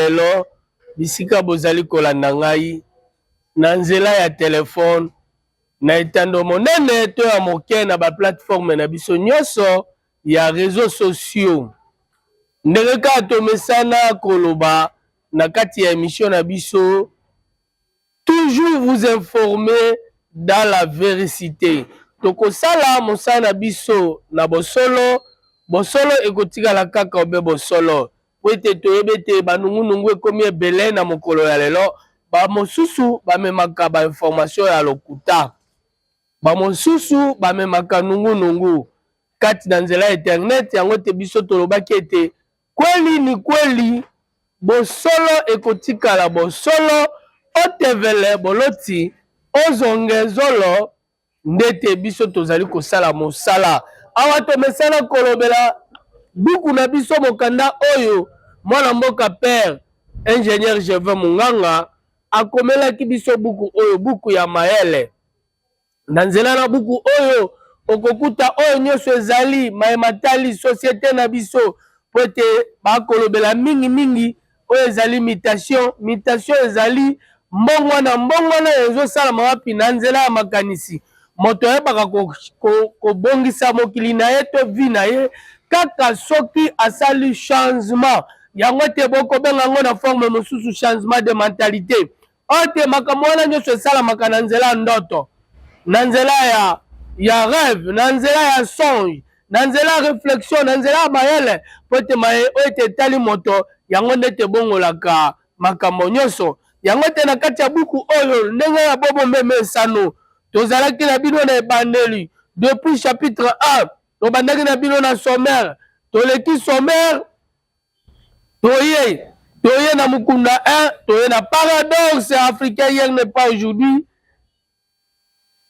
Lelo, bisika bozali kolanda ngai, na nzela ya telefone, na etando monene to ya moke, na ba plateformes na biso nyonso ya reseaux sociaux, ndenge kaka tomesana koloba na kati ya emission na biso. Toujours vous informer dans la vericite. Tokosala mosala na biso na bosolo, bosolo ekotikala kaka obe bosolo. Po ete toyebi ete ba nungu nungu ekomi ebele na mokolo ya lelo, ba mosusu bamemaka ba information ya lokuta, ba mosusu bamemaka nungu nungu kati na nzela ya internet, yango te biso tolobaki ete Kweli ni kweli, bosolo ekotikala bosolo, otevele boloti, ozonge zolo, ndete biso tozali kosala mosala. Awa tomesana kolobela buku na biso, mokanda oyo mwana mboka Père Ingenieur Gervais Munganga akomelaki biso buku oyo, buku ya mayele. Na nzela na buku oyo, okokuta oyo nyonso ezali maye matali societe na biso mpo ete bakolobela mingimingi oyo ezali mutation. Mutation ezali mbongwana. Mbongwana oyo ezosalama wapi? Na nzela ya makanisi. Moto ayebaka kobongisa ko, ko mokili na ye to vi na ye kaka soki asali changement. Yango ete bokobenga yango na forme mosusu changement de mentalite. oyo oh, te makambo wana nyonso esalamaka na nzela ya ndoto na nzela ya ya rêve na nzela ya songe na nzela ya reflexion na nzela ya mayele mpo ete maye oyo ete etali moto yango nde ete ebongolaka makambo nyonso yango ete na kati ya buku oyo ndenge ya bobo meme esano tozalaki na bino na ebandeli depuis chapitre 1 tobandaki na bino na sommaire toleki sommaire Toye, toye na mukunda 1, toye na paradoxe africain hier n'est pas aujourd'hui.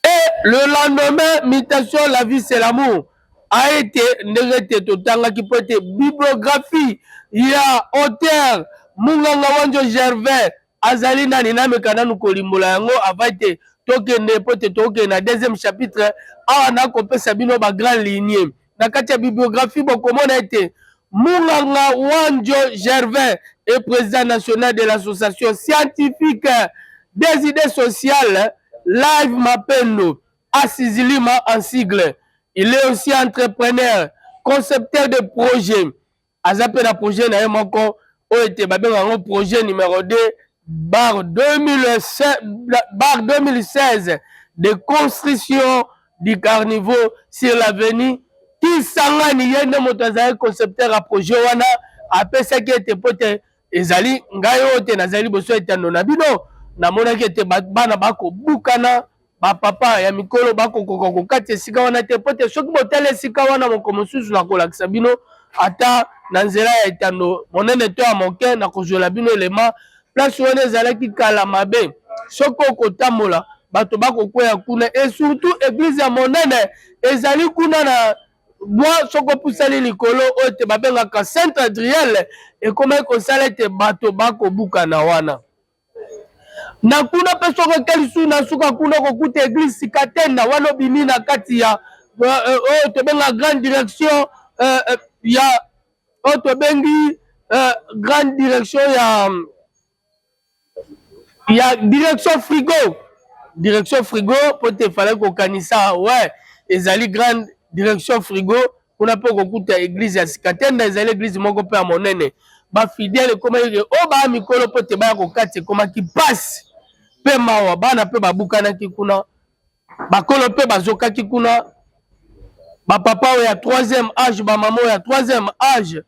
Et le lendemain, mutation, la vie c'est l'amour. A été, ndenge ete totangaki mpo ete bibliographie ya auteur Munganga Wanjo Gervais azali nani nameka nanu kolimbola yango avant te tokende mpo te tokende na deuxième chapitre awa nakopesa bino ba grand ligne na kati ya bibliographie bokomona ete munganga wanjo gervin e président national de l'association scientifique des idées sociales live mapendo asizilima en sigle il est aussi entrepreneur concepteur de projet aza mpe na projet na ye moko oyo ete babenga yango projet numero 2 bar 2016 de construction du carniveau sur l'avenue kisangani ye nde moto azalaki concepteur ya projet wana apesaki ete mpo ete Ezali ngai oyo te nazali liboso ya etando na bino, namonaki ete bana bakobukana bapapa ya mikolo bakokoka kokata esika wana te mpo te soki botali esika wana moko mosusu nakolakisa bino ata na nzela ya etando monene to ya moke nakozwela bino elema place wana ezalaki kala mabe soki okotambola bato bakokweya kuna esurtout eglize ya monene ezali kuna na bwa soki opusani likolo oyo te babengaka centre adriel ekomaki kosala ete bato bakobukana wana na kuna mpe soki okeli su na suka kuna okokuta eglise katenda wana obimi na kati ya euh, euh, oyo tobenga grande direction euh, ya oyo tobengi grande direction ya ya direction frigo direction frigo mpo te efalaki kokanisa we ezali grande direction frigo kuna mpe okokuta eglize ya sika tenda ezali eglize moko mpe ya monene bafidele ekomaki ke o oh, baya mikolo mpo te baya kokati ekomaki mpasi mpe mawa bana mpe babukanaki kuna bakolo mpe bazokaki kuna bapapa oyo ya troisième age bamama oyo ya troisième age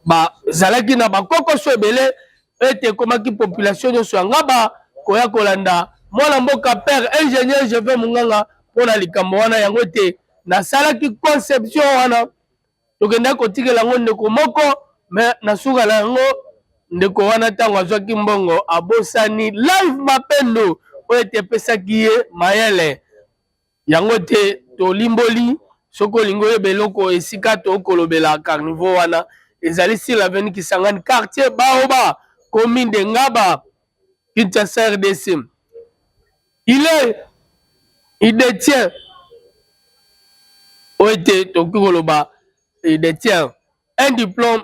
bazalaki na bakokoso ebele ete ekomaki population nyonso ya ngaba koya kolanda mwana mboka père ingénieur jeve monganga mpo na likambo wana yango ete nasalaki conception wana tokendaki kotikela yango ndeko moko me na suka na yango ndeko wana ntango azwaki mbongo abosani live mapendo oyo ete epesaki ye mayele yango te tolimboli soki olingi oyeba eloko esika tokolobela carniveau wana ezali sur l'avenue kisangani quartier baoba commune de ngaba kinshasa rdc il est il détient oyo ete tokoki koloba il détient un diplôme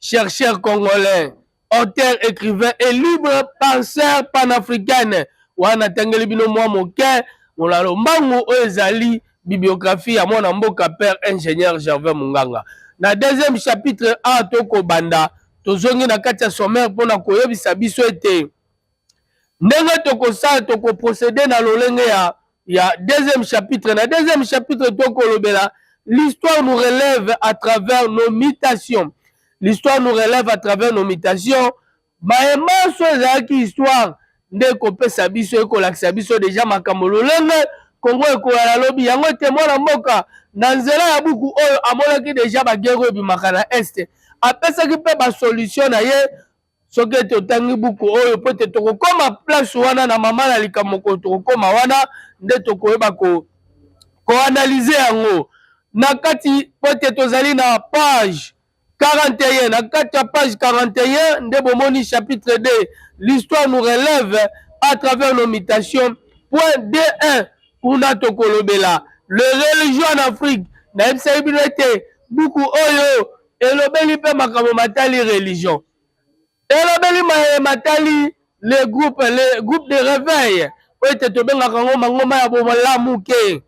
chercheur congolais auteur écrivain et libre penseur panafricaine wana natangeli bino mwa moke mona lombangu oyo ezali bibliographie ya mwana mboka père ingénieur gervais munganga na deuxième chapitre a tokobanda tozongi na kati ya sommaire mpo na koyebisa biso ete ndenge tokosala tokoprocede na lolenge ya ya deuxième chapitre na deuxième chapitre tokolobela l'histoire nous relève à travers nos mutations l'histoire nous relève à travers nos mutations baye manso ezalaki histoire nde ekopesa biso ekolakisa biso deja makambo lolenge kongo ekoyala lobi yango ete mwana mboka na nzela ya buku oyo amonaki deja bagere oyo ebimaka na este apesaki mpe basolution na ye soki ete otangi buku oyo mpo ete tokokoma place wana na mama na likambo mokolo tokokoma wana nde tokoyeba ko koanalyze yango na kati mpo ete tozali na page 41 na kati ya page 41 nde bomoni chapitre 2 l'histoire nous relève à travers nos mutations point d1 kuna tokolobela le religion en afrique nayebisaki bino ete buku oyo Elobeli mpe makambo matali religion. Elobeli maye matali le groupe, le groupe de reveil oyo ete tobengaka yango mangomba ya bomalamu ke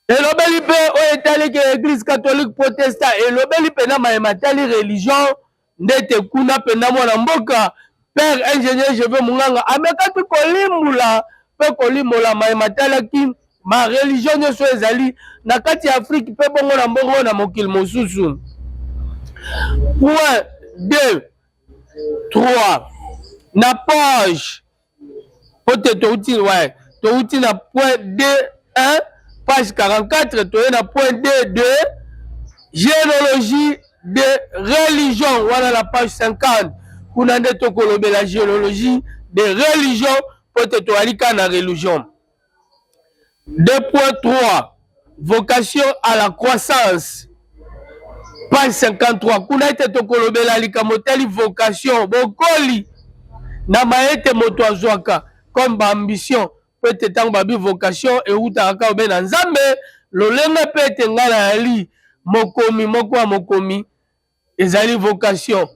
elobeli mpe oyo etali ke eglise catholique protestant elobeli mpenza maye matali religion ndete kuna mpenza mwana mboka Père ingénieur Jeve Munganga amekaki kolimbula mpe kolimbola maye matalaki ba religion nyonso ezali na kati ya Afrique mpe bongo na mbongo na mokili mosusu. Point 2 3 na page mpo te touti ouais, touti na point 2 1 page 44 toye na point 2 2 géologie de religion wana na page 50 kuna nde tokolobela geologie de religion mpo ete toyali kaka na religion 2.3 vocation à la croissance page 53 kuna ete tokolobela likambo etali vocation bokoli na maye ete moto azwaka comme baambition mpo ete ntango babi vocation ewutaka kaka obe na nzambe lolenge mpe ete ngai nayali mokomi moko ya mokomi ezali vocation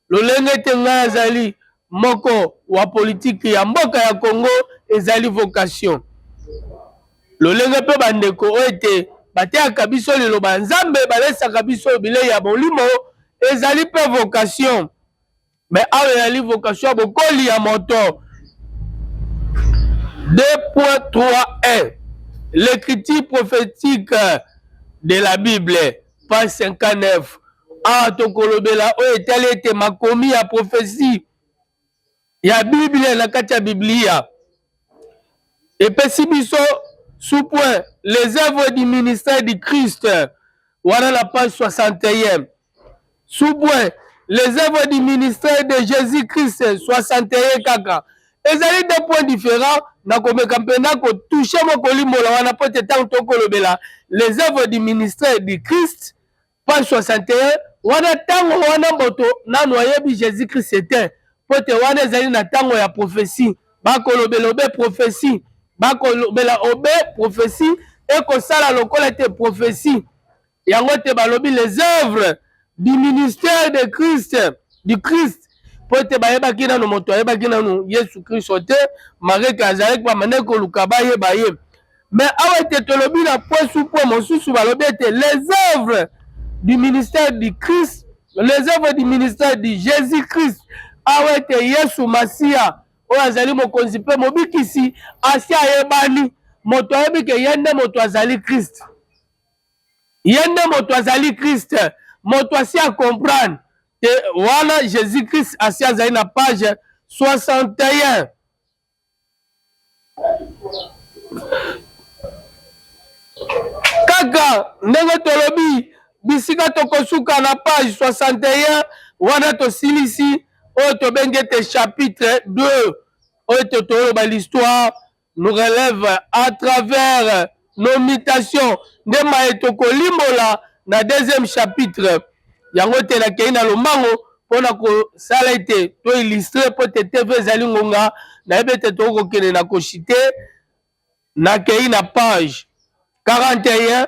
lolenge ete ngai azali moko wa politiki ya mboka ya congo ezali vocation lolenge mpe bandeko oyo ete bateyaka biso liloba ya nzambe balesaka biso bilei ya molimo ezali mpe vocation me awa eyali vocation ya bokoli ya moto 2.3 l'écriture prophétique de la bible page 59 awa tokolobela oyo etali ete makomi ya profesi ya biblia na kati ya biblia epesi biso sous point les œuvres du ministère du christ wana na page 61 Sous-point, Les œuvres du ministère de Jesus-Christ 61 kaka ezali deux points differents na komeka mpenza kotouche mwa kolimbola wana mpo te ntango tokolobela les œuvres du ministère du christ page 61 wana ntango wana moto nano ayebi jésus christ te mpo te wana ezali na ntango ya prophesie bakolobela obe prophesie bakolobela obe prophesie ekosala lokola te prophesie yango te balobi les œuvres du ministère de christ du christ mpo ete bayebaki nano moto ayebaki nano yesu kristo te mareke azalaki bamandaki koluka bayeba ye me awa ete tolobi na posu mpo mosusu balobi ete les œuvres du ministère du christ les œuvres du ministère du jésus christ awa ete yesu masiya oyo azali mokonzi mpe mobikisi asi ayebani moto ayebi ke ye nde moto azali kristo ye nde moto azali christ moto asi acomprendre te wana jésus christ asi azali na page 61 kaka ndenge tolobi bisika tokosuka na page 61 wana tosilisi oyo tobengi ete chapitre 2 oyo ete toloba l'histoire nous relève à travers nos mutations nde maye tokolimbola na deuxième chapitre yango te nakei na lombango mpo na kosala ete to illustre mpo te tv ezali ngonga nayebi ete tokokende na koshite nakei na page 41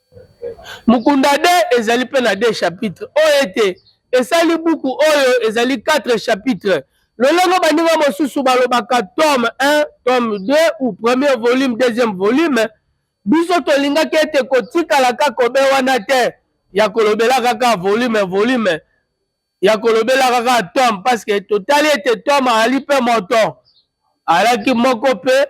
Mukunda de ezali mpe na de chapitre oyo ete esali buku oyo ezali quatre chapitre lolenge baninga mosusu balobaka tome un, tome deux ou premier volume, deuxième volume. Biso tolingaki ete kotikala kaka obe wana te ya kolobela kaka volume, volume. ya kolobelaka kaka tom parceke totali ete tom azali mpe moto alaki moko mpe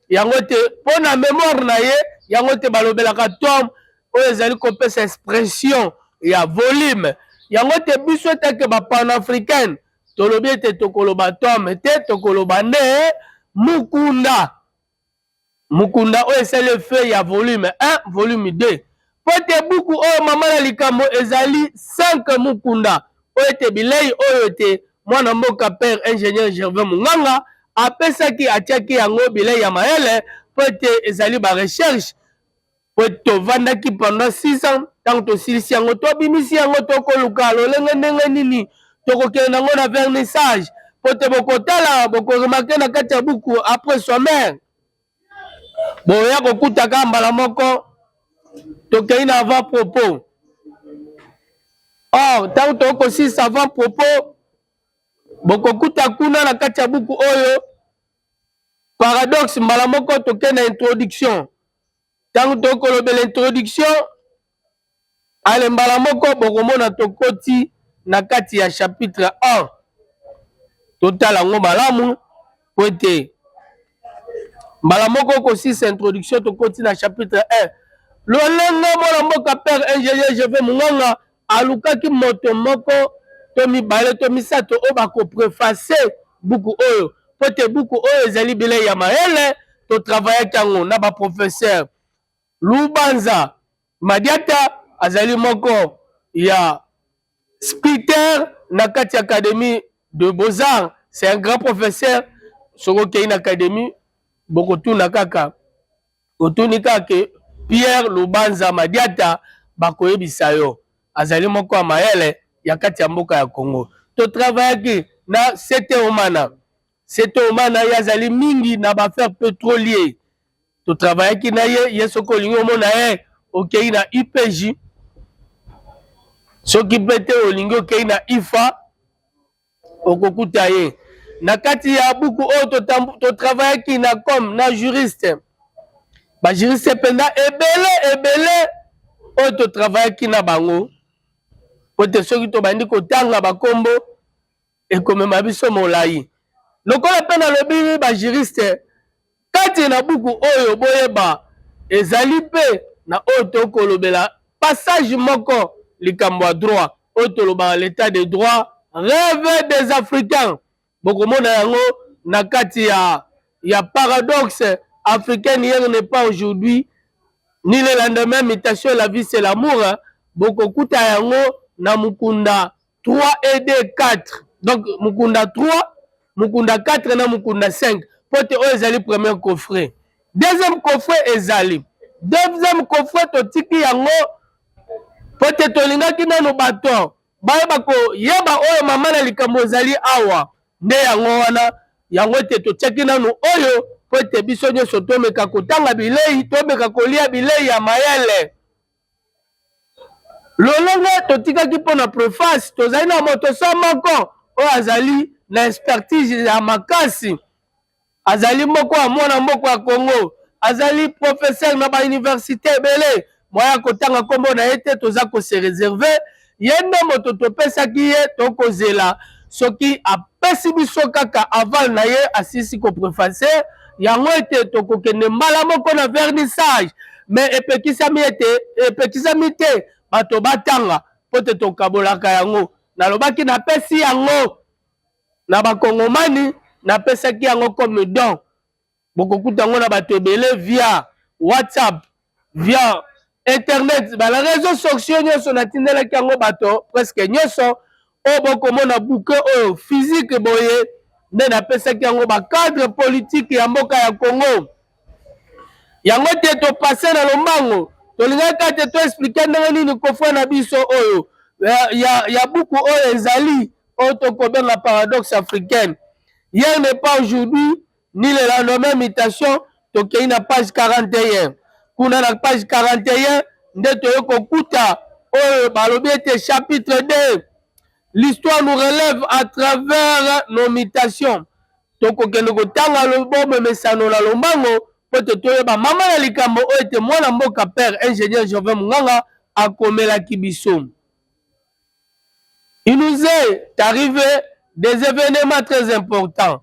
yango te mpo na memoire na ye yango te balobelaka tom oyo ezali kopesa expression ya volume yango te biso etake bapanafricaine tolobi ete tokoloba tom te tokoloba nde mukunda mukunda oyo esali effet ya volume 1 volume 2 mpo ete buku oyo mama na likambo ezali 5 mukunda mpo ete bilei oyo ete mwana mboka père ingénieur gervais munganga apesaki atiaki yango bilei ya mayele mpo ete ezali ba recherche po tovandaki pendant 6 ans ntango tosilisi yango tobimisi yango tokoluka lolenge ndenge nini tokokende nango na vernissage po te bokotala bokoremake na kati ya buku après sommaire boya kokutaka mbala moko tokei na avant propos or ntango tokosilisa avant propos bokokuta kuna na kati ya buku oyo paradoxe mbala moko toke na introduction ntango tokolobela introduction ale mbala moko bokomona tokoti na kati ya chapitre 1 totala yango malamu po ete mbala moko kosisa introduction tokoti na chapitre 1 lolenge mwana mboka père ingénieur jeve munganga alukaki moto moko to mibale to misato oyo bakopreface buku oyo mpo ete buku oyo ezali bilei ya mayele totravayaki yango na baprofesere lubanza madiata azali moko ya spiter na kati ya académie de beaux-arts c'est un grand professeur soki okei na académie bokotuna kaka otuni kaka ke Pierre Lubanza Madiata bakoyebisa yo azali moko ya mayele ya kati ya mboka ya Congo. To travaillaki na Sete Omana. Sete Omana ye azali mingi na ba affaires petrolier. To travaillaki na ye, ye soki olingi omona ye, okei na IPJ. Soki mpe te olingi okei na IFA. okokuta ye na kati ya buku oyo totravayaki na com na juriste bajuriste mpenza ebele ebele oyo totravayaki na bango mpo te soki tobandi kotanga bakombo ekomema biso molai lokola mpe nalobi bajuriste Kati na buku oyo Boyeba ezali mpe na oyo tokolobela passage moko likambo ya droit oyo tolobaka l'etat de droit reve des africains bokomona yango na kati ya ya paradoxe africaine hier n'est pas aujourd'hui ni le lendemain mutation la vie c'est l'amour bokokuta yango na mukunda 3 et 2 4 donc mukunda 3 mukunda 4 na mukunda 5 mpo te oyo ezali premier coffret deuxième coffret ezali deuxième coffret totiki yango mpo te tolingaki nano bato bayeba koyeba oyo mama na likambo ezali awa nde yango wana yango ete totyaki nano oyo mpo ete biso nyonso tomeka kotanga bilei tomeka kolia bilei ya mayele Lolenge totikaki mpo na preface, tozali na moto se moko oyo azali na expertise ya makasi. Azali moko ya mwana mboka ya Congo, azali professeur na ba universites ebele. Moyen ya kotanga kombo na ye te, toza ko se reserver. ye nde moto topesaki ye tokozela soki apesi biso kaka aval na ye asisi kopreface yango ete tokokende mbala moko na vernissage me epekisami ete epekisami te bato batanga mpo te tokabolaka yango nalobaki napesi yango na bakongomani napesaki yango comme don bokokuta yango na bato ebele via whatsapp via internet bana réseau sociaux nyonso natindelaki yango bato presque nyonso oyo bokomona buke oyo physique boye nde napesaki yango bacadre politike ya mboka ya congo yango te topase na lombango tolingaki kaka te toexplike ndenge nini kofre na biso oyo ya, ya, ya buku oyo ezali oyo tokobenga paradoxe africaine hier n'est pas aujourd'hui ni le lendemain mutation tokei na page 41 kuna na page 41 nde toye kokuta oyo balobi ete chapitre 2 l'histoire nous relève à travers nos mutations tokokende kotanga lobombe mesano na lombango mpo te toyeba mama na likambo oyo ete mwana mboka père ingénieur jovin munganga akomelaki biso il nous est arrivé des événements très importants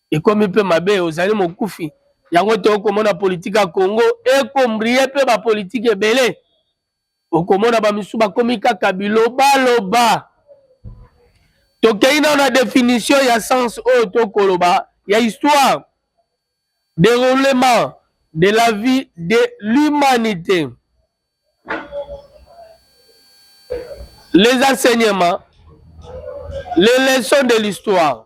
ekomi mpe mabe ozali mokufi yango te okomona politike ya congo ekombrie mpe bapolitike ebele okomona bamisusu bakomi kaka bilobaloba tokei nao na definition ya sens oyo tokoloba ya histoire déroulement de la vie de l'humanité les enseignements les leçons de l'histoire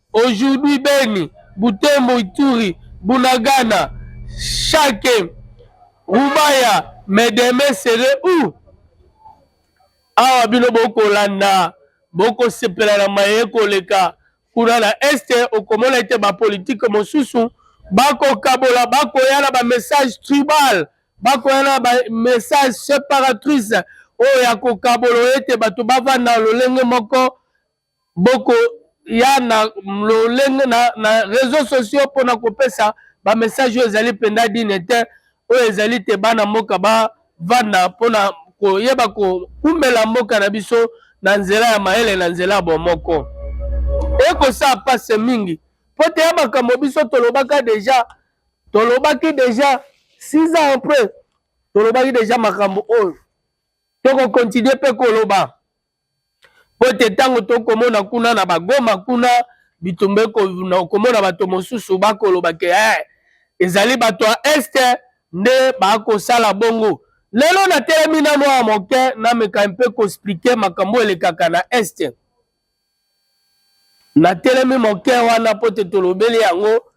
Aujourd'hui Beni, Butembo, Ituri, Bunagana, Shake, Rubaya mais demain serait où? Awa bino bokolanda bokosepela na maye koleka kuna na est okomona ete bapolitike mosusu bakokabola bakoya na bamessage tribal bakoya na bamessage separatrice oyo ya kokabola ete bato bavanda lolenge moko boko ya na lolenge na, na réseaux sociaux mpo na kopesa bamessage oyo ezali mpenza dine te oyo ezali te bana mboka bavanda mpo na koyeba koumela mboka na biso na nzela ya mayele na nzela ya bomoko ekosala mpasi mingi mpo te ya makambo biso tolobaka deja tolobaki deja six ans après tolobaki deja makambo oyo tokokontinue mpe koloba mpo ete ntango tokomona kuna na bagoma kuna bitumba okomona bato mosusu bakoloba ke hey, eh, ezali bato ya este nde bakosala bongo lelo natelemi na mwa moke nameka mpe koexplike makambo elekaka na este natelemi moke wana mpo te tolobeli yango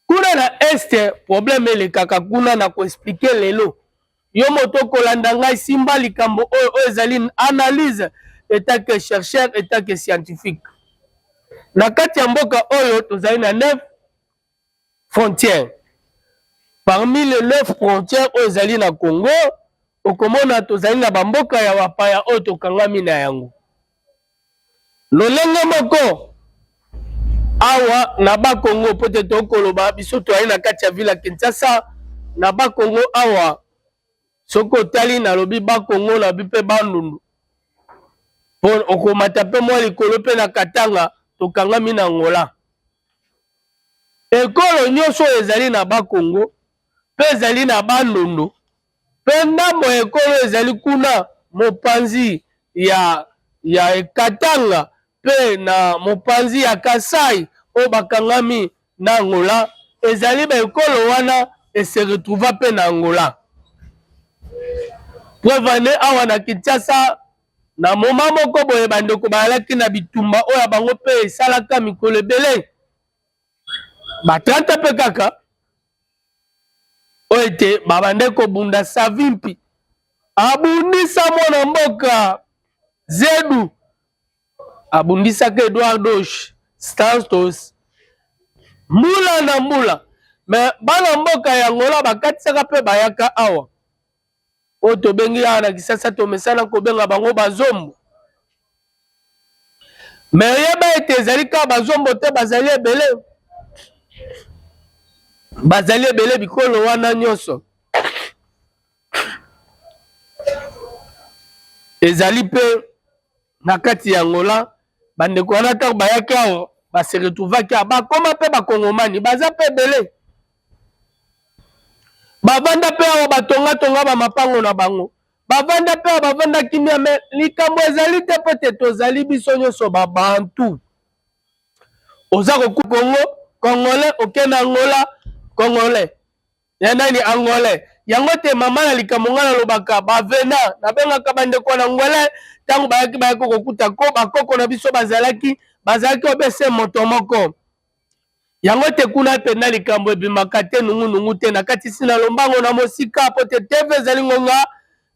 Kuna na est problème elekaka kuna na ko expliquer lelo yo moto okolanda ngai simba likambo oyo oyo ezali analyse etat que chercheur etat que scientifique na kati ya mboka oyo tozali na neuf frontières parmi les neuf frontières oyo ezali na congo okomona tozali na bamboka ya bapaya oyo tokangami na yango Lolenge moko awa na Bakongo, mpo te tokoloba biso toyai na kati ya vila Kinshasa, na Bakongo awa soki otali nalobi Bakongo nalobi mpe Bandundu, mpo okomata mpe mwa likolo mpe na Katanga tokangami na Angola. Ekolo nyonso oyo ezali na Bakongo mpe ezali na Bandundu Mpe ndambo ya ekolo ezali kuna, mopanzi ya, ya Katanga mpe na mopanzi ya Kasaï, oyo bakangami na Angola, ezali ba ekolo wana e se retrouva mpe na Angola. Preuve en est, awa na Kinshasa, na moment moko boye, ba ndeko bazalaki na bitumba oyo ya bango mpe esalaka mikolo ebele, ba 30 ans mpe kaka. oyo ete babande kobunda savimpi abundisa mwana mboka zedu abundisaka eduardos stantos mbula na mbula me bana mboka ya ngola bakatisaka mpe bayaka awa oyo tobengi awa na kisasa tomesana kobenga bango bazombo me oyeba ete ezali kaka bazombo te bazali ebele bazali ebele bikolo wana nyonso ezali mpe na kati ya Angola bandeko wana ntango bayaki awa base retrouvaki awa bakoma mpe bakongomani baza mpe ebele bavanda mpe awa batongatonga bamapango na bango bavanda mpe awa bavanda kimia me likambo ezali te mpo te tozali biso nyonso babantu oza koku kongo congolais okende angola congolais ya nani angolais yango te mama na likambo ngai nalobaka bavena nabengaka bandeko na ngwele ntango bayaki bayaki kokuta ko bakoko na biso bazalaki bazalaki obese moto moko yango te kuna mpenza likambo ebimaka te nungunungu te nakatisi na lombango na mosika mpo te teve ezali ngonga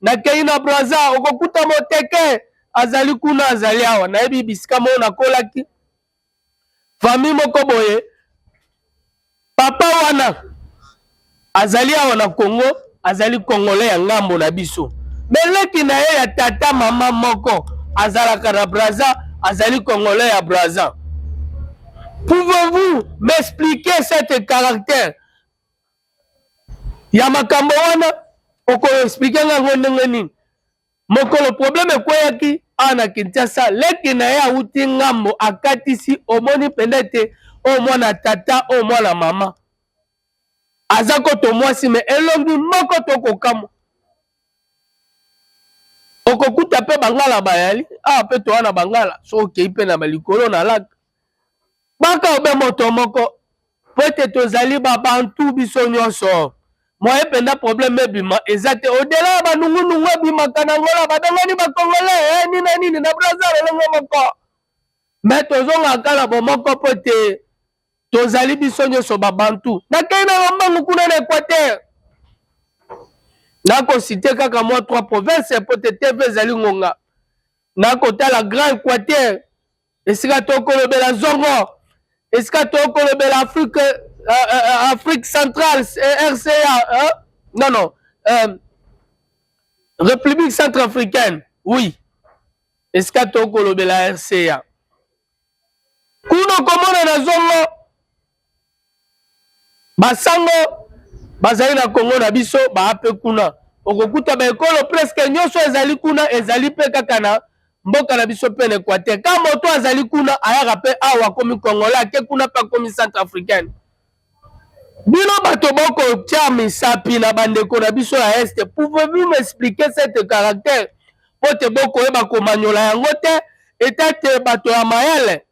nakei na braza okokuta moteke azali kuna azali awa nayebi bisika moo nakolaki famille moko boye papa wana azali awa na congo azali congolais ya ngambo na biso meleki na ye ya tata mama moko azalaka na braza azali congolais ya braza pouvez-vous m'expliquer cette caractère ya makambo wana okoexplike ngango ndenge nini Mokolo probleme ekweyaki awa na Kinshasa, leki na ye awuti ngambo akatisi, omoni mpenza ete oyo mwana tata, oyo mwana mama aza koto mwasi me elongi moko to kokamwa okokuta mpe bangala bayali awa ah, mpe toa na bangala soki okei mpe na balikolo na laka baka obe moto moko Mpo ete tozali ba Bantu biso nionso. Moyen penza problème ebima eza te au delà ya ba nungu nungu ebimaka na Angola babengani ba Congolais eh nini na nini na Brazza lolenge moko. Mais tozongaka kaka na bomoko mpo ete tozali biso nionso ba Bantu. Nakeyi na lombangu kuna na Equateur. Nako citer kaka mwa trois provinces mpo ete TV ezali ngonga. Nakotala Grand Equateur. esika tokolobela zongo esika tokolobela afrique uh, uh, afrique centrale rca uh, non non uh, république centre africaine oui esika tokolobela rca kuna okomona na zongo Basango bazali na Kongo na biso baa mpe kuna, okokuta baekolo preske nyonso ezali kuna, ezali mpe kaka na mboka na biso mpe na Equateur. Ka moto azali kuna ayaka mpe awa akomi Kongola, ake kuna mpe akomi Centre africaine. Bino bato bokotya misapi na bandeko na biso ya este, pouvez-vous m'expliquer cette caractère mpo te bokoyeba komanyola yango te, eta te bato ya mayele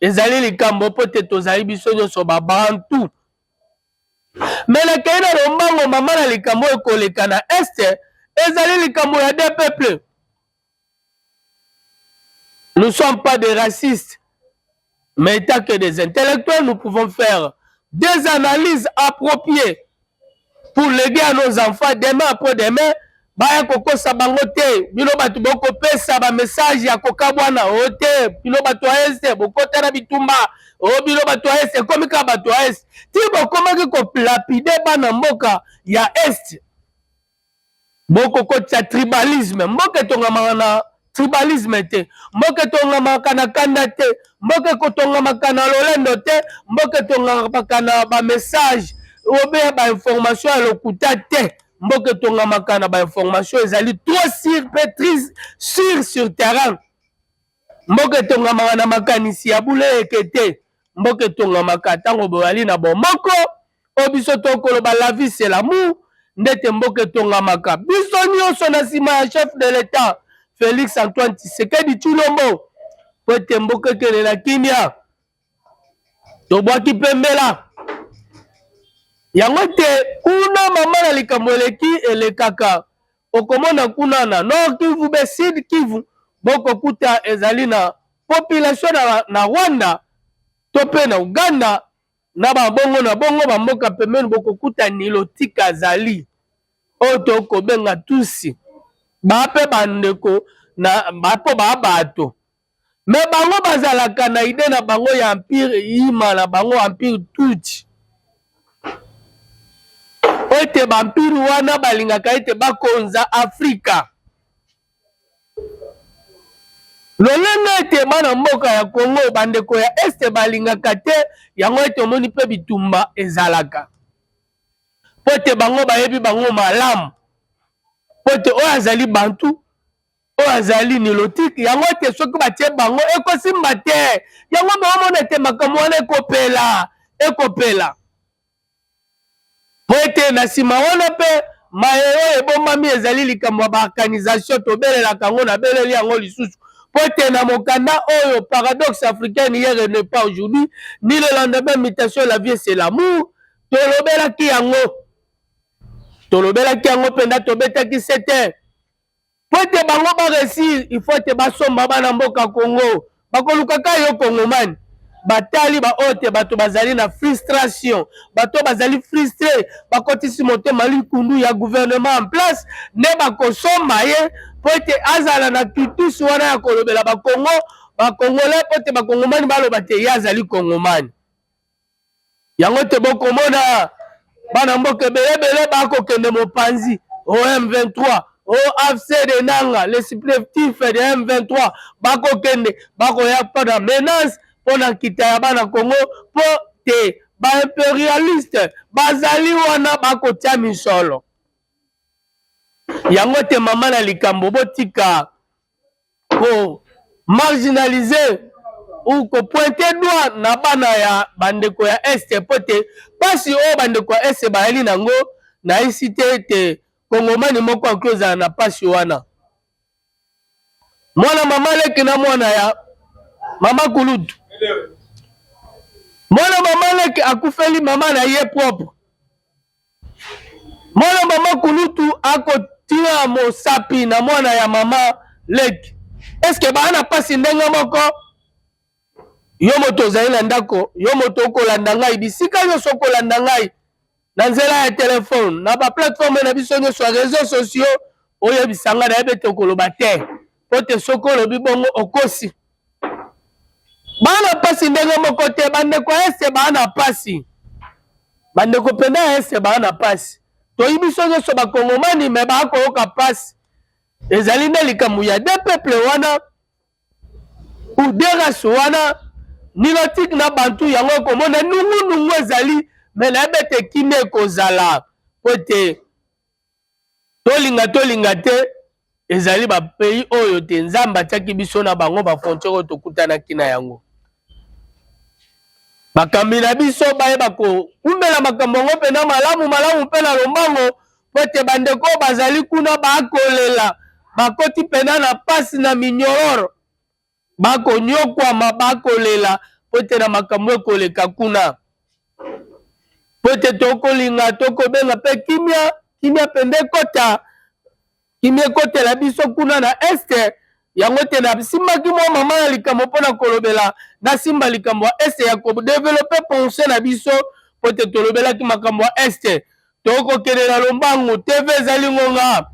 ezali likambo mpo te tozali biso nyonso babantu me nakei na lombango mama na likambo oyo koleka na este ezali likambo ya de peuple nous sommes pas des racistes mais étant que des intellectuels nous pouvons faire des analyses appropriées pour l'aider à nos enfants demain après demain baya kokosa bango te bino bato bokopesa bamessage ya kokabwana o oh, te bino bato ya este bokota na bitumba o oh, bino bato ya este ekomi kaka bato ya este ti bokomaki kolapide bana mboka ya este bokokotisa tribalisme mboka etongamaka na tribalisme te mboka etongamaka na kanda te mboka ekotongamaka na lolendo te mboka etongamaka na bamessage obe bainformation ya lokuta te mboka etongamaka na bainformation ezali trop sur mpe sur sur terrain mboka etongamaka na makanisi ya bule eke te mboka etongamaka ntango boyali na bomoko oyo biso tokoloba la vie c'est l'amour ndete mboka etongamaka biso nyonso na nsima ya chef de l'etat félix antoine tshisekedi tshilombo mpo ete mboka ekende na kimia tobwaki mpe mbela yango ete kuna mama na likambo eleki elekaka okomona kuna na nord kivu be sud kivu bokokuta ezali na population na, na rwanda to mpe na uganda na babongo na bongo bamboka pembeni bokokuta nilotika azali oyo tokobenga tusi baa mpe bandeko na bapo baa bato me bango bazalaka na ide na bango ya empire yima na bango empire tutsi ete bampire wana balingaka ete bakonza afrika lolenge ete bana mboka ya congo bandeko ya este balingaka te yango ete omoni mpe bitumba ezalaka mpo ete bango bayebi bango malamu mpo ete oyo azali bantu oyo azali nilotike yango ete soki batie bango ekosimba te yango baomona ete makambo wana ekopela ekopela po ete na nsima wana mpe maye oyo ebombami ezali likambo ya baorganisation tobelelaka yango nabeleli yango lisusu po ete na mokanda oyo paradoxe africaine hier et ne pas aujourd'hui ni le lendemain mutation la vie c'est l'amour tolobelaki yango tolobelaki yango mpenza tobetaki sete po ete bango ba resir il faut ete basomba bana mboka congo bakoluka ka yo congomani batali baoyo te bato bazali na frustration bato bazali frustre bakotisi motema likundu ya gouvernement en place nde bakosomba ye po ete azala na tutus wana ya kolobela bakongo bakongole po ete bakongomani baloba te ye azali kongomani yango te bokomona bana mboka ebelebele bakokende mopanzi o M23 o AFC de Nanga le supplétif de M23 bakokende bakoya mpo na menace mpo na nkita ya bana Congo mpo te baimperialiste bazali wana bakotya misolo yango te mama na likambo botika ko marginaliser ou ko pointer doigt na bana ya bandeko ya Est mpo ete mpasi oyo bandeko ya Est bayali nango nayisi te ete kongomani moko akoki ozala na mpasi wana. Mwana mama leki na mwana ya mama kulutu, mwana mama leki akufeli mama na ye propre Mwana mama kulutu akotia mosapi na mwana ya mama leki. Eske baa na pasi ndenge moko? Yo moto ozali na ndako, yo moto okolanda ngai bisika nyonso, okolanda ngai na nzela ya telefone, na ba plateforme na biso nyonso ya reseau sociaux, oyebisa ngai nayebi ete okoloba te. mpo te soki olobi bongo okosi bana mpasi ndenge moko te bandeko ya ese baa na mpasi bandeko mpenza ya ese baa na mpasi toyi biso nyonso bakongomani me baa koyoka mpasi ezali nde likambo ya de peuple wana ou de race wana nilotike na bantu yango ekomona nungunungu ezali me nayebi ete kimia ekozala mpo ete Tolinga tolinga te ezali ba pays oyo te Nzambe atiaki biso na bango ba frontières oyo tokutanaki na yango. Bakambi na biso bayeba koumela makambo yango mpenza malamu malamu mpe na lombango mpo ete bandeko oyo bazali kuna bakolela bakoti mpenza na mpasi na minyororo bakonyokwama, bakolela mpo ete na makambo ekoleka kuna, mpo ete tokolinga tokobenga mpe kimia kimia mpenza ekota kimia ekotela biso kuna na este yango te nasimbaki mwa mama ya likambo mpo na kolobela nasimba likambo ya este ya kodevelope pensé na biso mpo te tolobelaki makambo ya este tokokende na lombangu tv ezali ngonga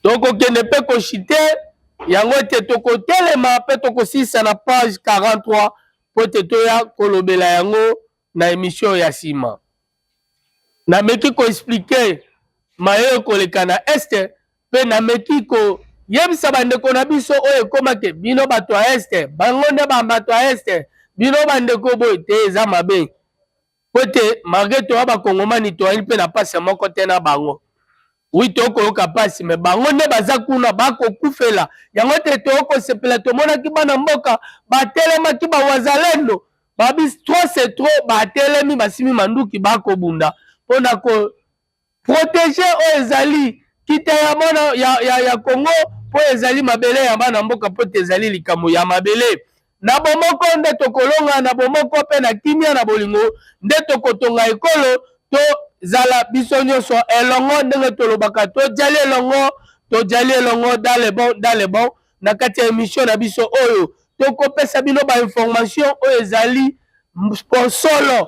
tokokende mpe koshite yango ete tokotelema mpe tokosilisa na page 43 mpo ete toya kolobela yango na emission ya nsima nameki koexplike maye ekoleka na este mpe nameki koyebisa bandeko na biso oyo ekomake bino bato ya este bango nde bato ya este bino bandeko boye te eza mabe mpo ete malgre toya bakongomani toyali mpe na mpasi moko te na bango wi tokoyoka mpasi me bango nde baza kuna bakokufela yango te tokosepela tomonaki bana mboka batelemaki bawazalendo babis tro se tro batelemi basimi manduki bakobunda mpo na ko Proteger oyo ezali kita ya bana ya, ya, ya Congo mpo ezali mabele ya bana mboka mpo te ezali likambo ya mabele na bomoko nde tokolonga na bomoko mpe na kimia na bolingo nde tokotonga ekolo tozala biso nyonso elongo ndenge tolobaka tojali elongo tojali elongo dans le bon dans le bon na kati ya emission na biso oyo tokopesa bino bainformation oyo ezali sponsolo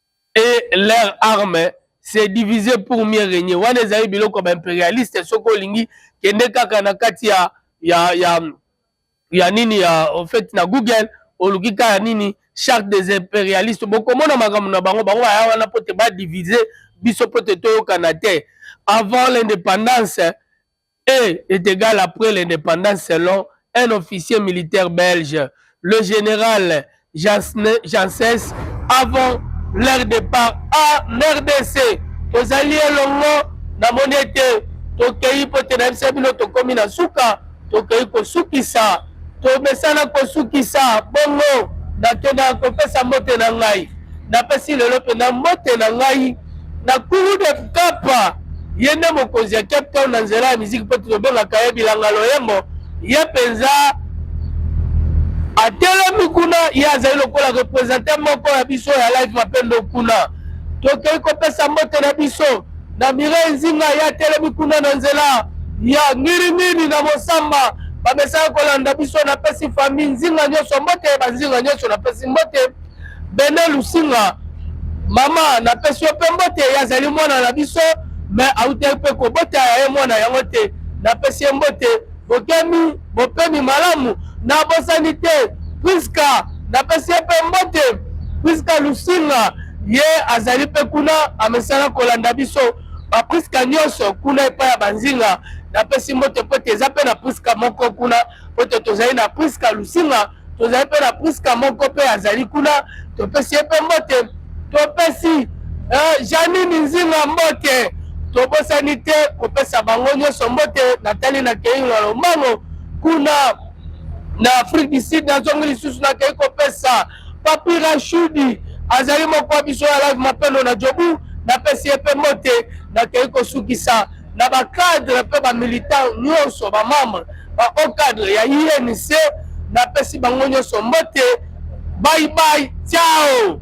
et leur arme se diviser pour mieux régner wana ezali biloko ya baimperialiste soki olingi kende kaka na kati ya, ya, ya, ya nini ya en fait na google oluki kaka nini charte des impérialistes bokomona makambo na bango bango baya wana mpo te badivise biso mpo te toyokana te avant l'indépendance et est égal après l'indépendance selon un officier militaire belge, le général Janssens, avant leur départ à RDC. tozali elongo namoni ete tokei mpo te na biso bino tokomi na suka tokei kosukisa tomesana kosukisa bongo nakenda kopesa mbote na ngai napesi lelo mpenza mbote na ngai na kuru de kapa ye nde mokonzi ya cape town na nzela ya miziki mpo tobengaka ye bilanga loyembo ye mpenza atelemi kuna ye azali lokola represente moko ya biso ya live mapendo kuna tokei kopesa mbote na biso na Mireille Nzinga ye atelemi kuna na nzela ya ngiringiri na Mosamba bamesaka kolanda biso. Napesi famille Nzinga nyonso mbote, banzinga nyonso napesi mbote. Bene Lusinga mama, napesi yo mpe mbote, ye azali mwana na biso me autaki mpe kobota ya ye mwana yango te, napesi ye mbote. bokemi bopemi malamu na bosani te priska napesi ye mpe mbote priska lusinga ye azali mpe kuna amesana kolanda biso bapriska nyonso kuna epai ya banzinga napesi mbote mpo te eza mpe na priska moko kuna mpo te tozali na priska lusinga tozali mpe na priska moko mpe azali kuna topesi ye mpe mbote topesi eh, janini nzinga mbote tobosani te kopesa bango nyonso mbote natali na kei na lombango kuna na afrique du sud nazongi lisusu nakei kopesa papi rashudi azali moko wa biso ya live mapendo na jobu napesi ye mpe mbote nakei kosukisa na ba cadre mpe ba militant nyonso ba membre ba haut cadre ya INC napesi bango nyonso mbote bye bye ciao